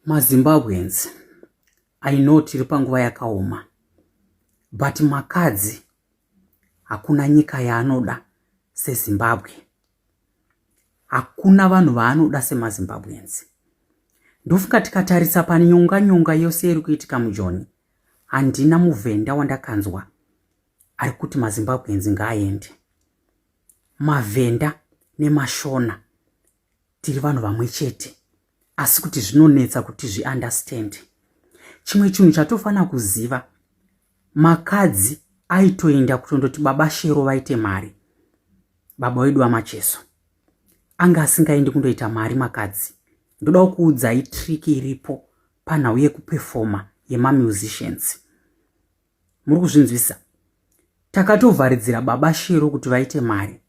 mazimbabweans i know tiri panguva yakaoma but makadzi hakuna nyika yaanoda sezimbabwe hakuna vanhu vaanoda semazimbabweans ndofunga tikatarisa panyonga nyonga yose iri kuitika mujoni handina muvhenda wandakanzwa ari kuti mazimbabweans ngaaende mavhenda nemashona tiri vanhu vamwe chete asi kuti zvinonetsa kuti zviunderstand chimwe chinhu chatofanira kuziva makadzi aitoenda kutondoti baba shero vaite mari baba wedu vamacheso anga asingaendi kundoita mari makadzi ndodawo kuudzai triki iripo panhau yekupefoma yemamusicians muri kuzvinzwisisa takatovharidzira baba shero kuti vaite mari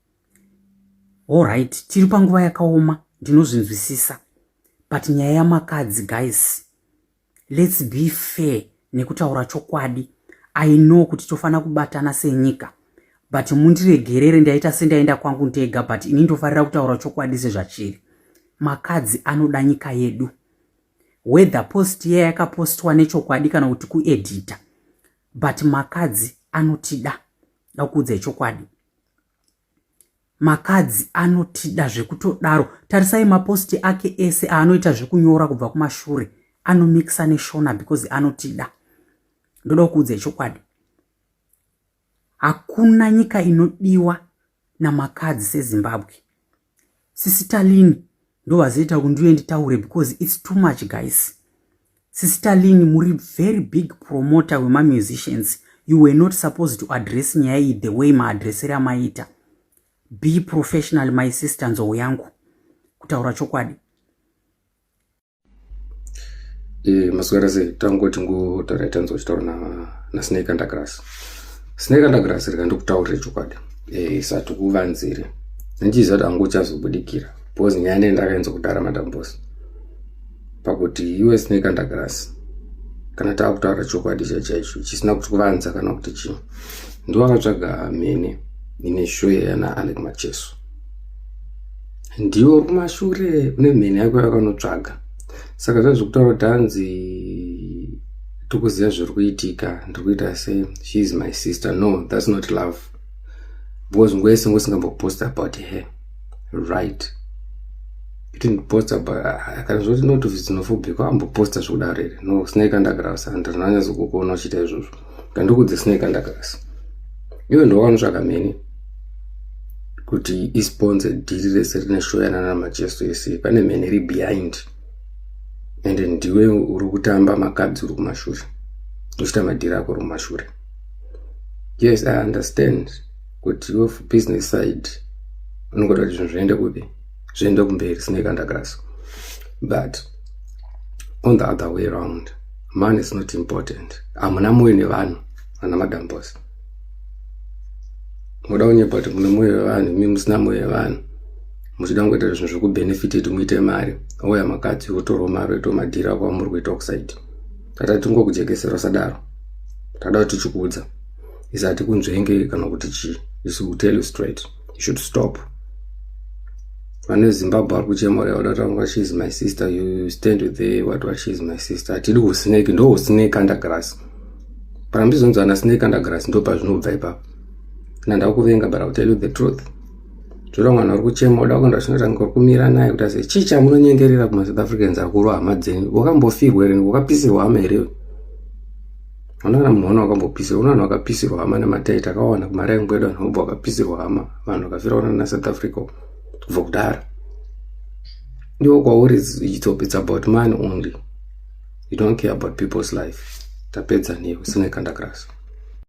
allright tiri panguva yakaoma ndinozvinzwisisa but nyaya yamakadzi guys lets be fair nekutaura chokwadi i know kuti tofanira kubatana senyika but mundiregerere ndaita sendaenda kwangu ndega but ini ndofarira kutaura chokwadi sezvachiri makadzi anoda nyika yedu whether post iya yakapostwa nechokwadi kana kuti kuedhita but makadzi anotida dakuudza ichokwadi makadzi anotida zvekutodaro tarisai maposti ake ese aanoita zvekunyora kubva kumashure anomixa neshona because anotida ndoda kuudza ichokwadi Hakuna nyika inodiwa namakadzi seZimbabwe. Sisi Talini ndovazoita kuti ndiuye nditaure because it's too much guys. Sisi Talini muri very big promoter wemamusicians. You were not supposed to address nyaya iyi the way maadressere amaita. Be professional my sister nzou yangu. Kutaura chokwadi. e, maswera sei tangoti ngotaura tanzwa chitaura na, na snake undergrass snake undergrass rika ndikutaurire chokwadi e, isati kuvanzire ndichiziva kuti angu uchazobudikira bcause nyaya nei ndakaenza kudara madam bos pakuti iwe snake undergrass kana tava kutaura chokwadi cha chaicho chisina kuti kuvanza kana kuti chii ndiwakatsvaga mhene ine shoya yana alec macheso ndiwo kumashure une mheni yako yakanotsvaga saka zvazvekutaura kuti hanzi tikuziva zviri kuitika ndiri kuita sei she is my sister no thats not love because ngwese ngosingambopost about her right itindiposta kana zvoti notice dzinofobhika amboposta zvekudaro here no sinaikandagravsa ndirina nyazokukuona uchiita izvozvo kanduku dzisinei kandakasi iwe ndowanotsvaka mheni kuti isponse dhiri rese rine shoyana namacheso ese pane mheni iri behind ende ndiwe uri kutamba makabzi uri kumashure uchita madhiri ako uri kumashure yes i understand kuti iwe business side unongoda kuti zvinhu zviende kupi zviende kumberi sine kandakasi but on the other way round money is not important hamuna moyo nevanhu vana madam boss moda kunyepa kuti mune moyo wevanhu mi musina moyo wevanhu muchida kungoita zvinhu zvekubenefiti kuti muite mari ouya makadzi otorwa mari oitwa madhiri ako amuri kuita oxide tata tingokujekesera usadaro tada kuti tichikuudza isati kunzvenge kana kuti chii isu tell you straight you should stop vana vezimbabwe vari kuchemora vada kutaura she is my sister you stand with the what what she is my sister hatidi kusnake ndo usnake under grass kana mtizonzi ana snake under grass ndo pazvinobva ipapo na ndakuvenga but ill tell you the truth zvira mwana uri kuchema uda kuenda chinotanga uri kumira naye kuti ase chii chamunonyengerera kumasouth africans akuru hama dzenyu wakambofirwa here wakapisirwa hama here Unoona kana munhu wana wakambopisirwa, unoona vanhu vakapisirwa hama nematai takawana kumaraini kwedu vanhu vobva vakapisirwa hama, vanhu vakafira ona naSouth Africa kubva kudhara. Iwo kwauri it's, it's about money only. You don't care about people's life. Tapedza newe, sine kandakirasa.